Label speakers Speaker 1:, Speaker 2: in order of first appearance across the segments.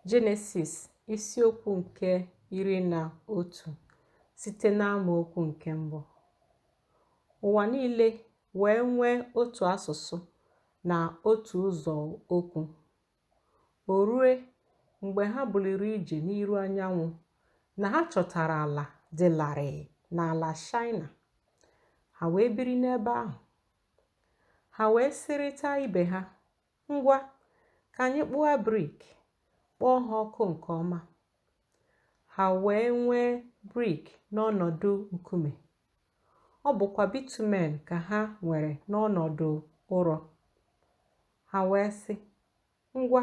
Speaker 1: Jenesis isiokwu nke iri na otu site n'amaokwu nke mbụ ụwa niile wee nwee otu asụsụ na otu ụzọ okwu o rue mgbe ha buliri ije n'iru anyanwụ na ha chọtara ala dị larịị n'ala shaina ha wee biri n'ebe ahụ ha wee sịrịta ibe ha Ngwa, ka anyị kpụa brik, kpọọ ha ọkụ nke ọma. Ha wee nwee brik n'ọnọdụ nkume. Ọ bụkwa bitumen ka ha nwere n'ọnọdụ ụrọ. Ha wee sị, Ngwa,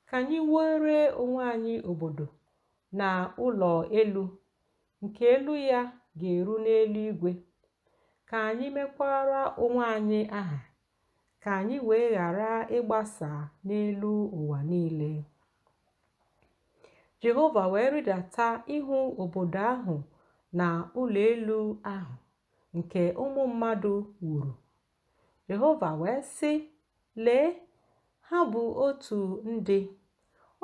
Speaker 1: ka anyị wuere onwe anyị obodo na ụlọ elu nke elu ya ga-eru n'eluigwe, ka anyị mekwaara onwe anyị aha ka anyị wee ghara ịgbasa n'elu ụwa niile. Jehova wee rịdata ịhụ obodo ahụ na ụlọ elu ahụ nke ụmụ mmadụ wuru. Jehova wee sị, Lee, ha bụ otu ndị,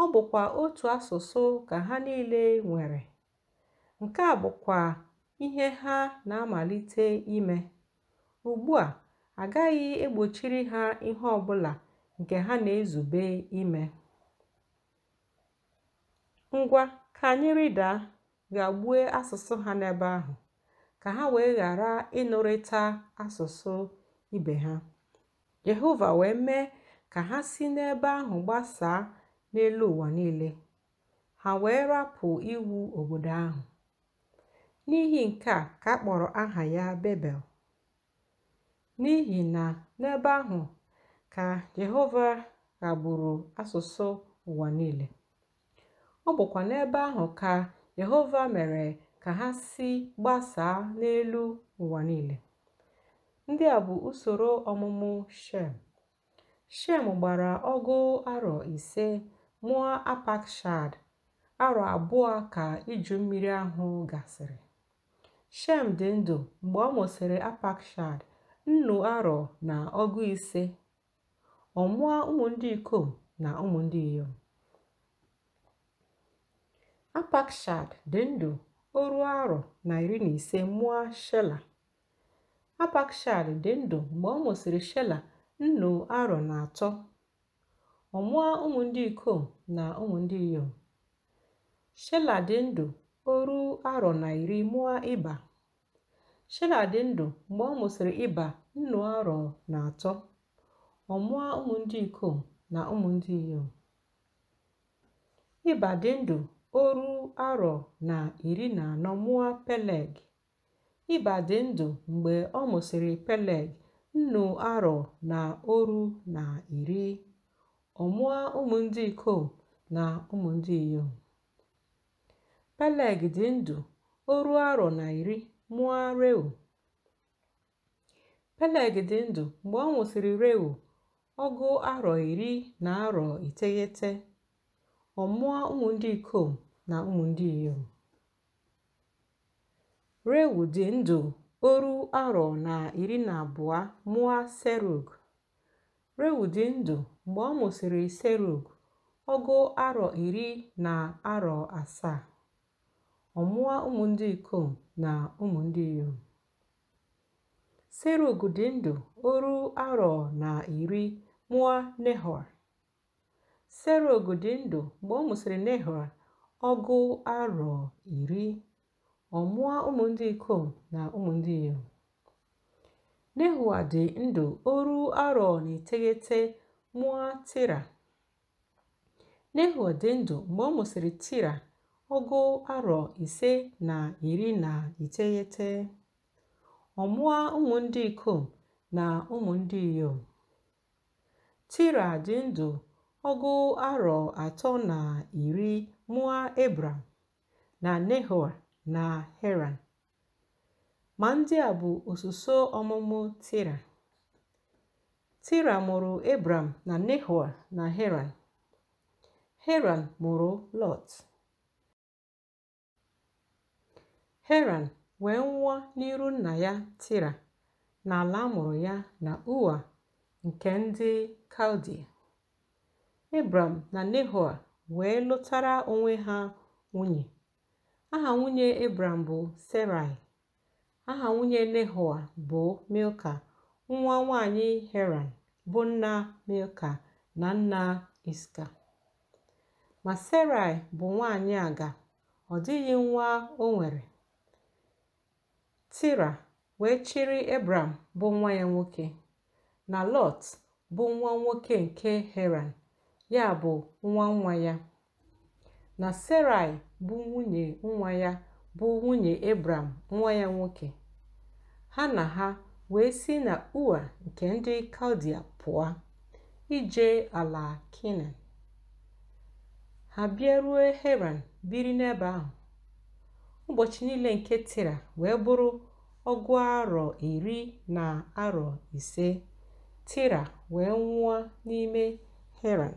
Speaker 1: ọ bụkwa otu asụsụ ka ha niile nwere. Nke a bụkwa ihe ha na-amalite ime. Ugbu a, a gaghị egbochiri ha ihe ọ bụla nke ha na-ezube ime. Ngwa, ka anyị rịdaa ghagbue asụsụ ha n'ebe ahụ, ka ha wee ghara ịnụrịta asụsụ ibe ha. Jehova wee mee ka ha si n'ebe ahụ gbasaa n'elu ụwa niile. ha wee rapụ iwu obodo ahụ. N'ihi nke a ka a kpọrọ aha ya Bebel, n'ihi na n'ebe ahụ ka Jehova ghagburu asụsụ ụwa niile. Ọ bụkwa n'ebe ahụ ka Jehova mere ka ha si gbasaa n'elu ụwa niile. Ndị a bụ usoro ọmụmụ Shem. Shem gbara ọgụ arọ ise mụa Apakshad arọ abụọ ka iju mmiri ahụ gasịrị. Shem dị ndụ mgbe ọ mụsịrị Apakshad nnu arọ na ọgụ ise. Ọ mụa ụmụ ndị ikom na ụmụ ndị inyom. Apakshad dị ndụ oru arọ na iri na ise mụa Shela. Apakshad dị ndụ mgbe ọ mụsịrị Shela nnu arọ na atọ. Ọ mụa ụmụ ndị ikom na ụmụ ndị inyom. Shela dị ndụ oru arọ na iri mụa Iba. Shela dị ndụ mgbe ọ mụsịrị Iba nnu arọ na atọ. Ọ mụa ụmụ ndị ikom na ụmụ ndị inyom. Iba dị ndụ oru arọ na iri na anọ mụa Peleg. Iba dị ndụ mgbe ọ mụsịrị Peleg nnu arọ na oru na iri. Ọ mụa ụmụ ndị ikom na ụmụ ndị inyom. Peleg dị ndụ oru arọ na iri mụa Reu. Peleg dị ndụ mgbe ọ mụsịrị Reu ọgụ arọ iri na arọ iteghete. Ọ mụa ụmụ ndị ikom na ụmụ ndị inyom. Reu dị ndụ oru arọ na iri na abụọ mụa Serug. Reu dị ndụ mgbe ọ mụsịrị Serug ọgụ arọ iri na arọ asaa. Ọ mụa ụmụ ndị ikom na ụmụ ndị inyom. Serug dị ndụ oru arọ na iri mụa Nehoa. Serug dị ndụ mgbe ọ mụsịrị Nehoa ọgụ arọ iri, ọ mụa ụmụ ndị ikom na ụmụ ndị inyom. Nehoa dị ndụ oru arọ na iteghete mụa Tira. Nehoa dị ndụ mgbe ọ mụsịrị Tira ọgụ arọ ise na iri na iteghete. Ọ mụa ụmụ ndị ikom na ụmụ ndị inyom. tira dị ndụ ọgụ arọ atọ na iri mụa ebram na nehoa na heran ma ndị a bụ osuso ọmụmụ tira tira mụrụ ebram na nehoa na heran heran mụrụ lọt Heran wee nwụa n'iru nna ya Tira n'ala a mụrụ ya na Ua nke ndị Kaldia. Ebram na Nehoa wee lụtara onwe ha nwunye. Aha nwunye Ebram bụ Serai aha nwunye Nehoa bụ Milka nwa nwanyị Heran bụ nna Milka na nna Iska ma Serai bụ nwanyị aga ọ dịghị nwa o nwere Tira wee chịrị Ebram bụ nwa ya nwoke na lọt bụ nwa nwoke nke heran ya bụ nwa nwa ya na serai bụ nwunye nwa ya bụ nwunye ebram nwa ya nwoke ha na ha wee si na ua nke ndị kaldia pụa ije ala kenan ha bịaruo heran biri n'ebe ahụ ụbọchị niile nke tira wee bụrụ ọgụ arọ iri na arọ ise, Tira wee nwụa n'ime Heran.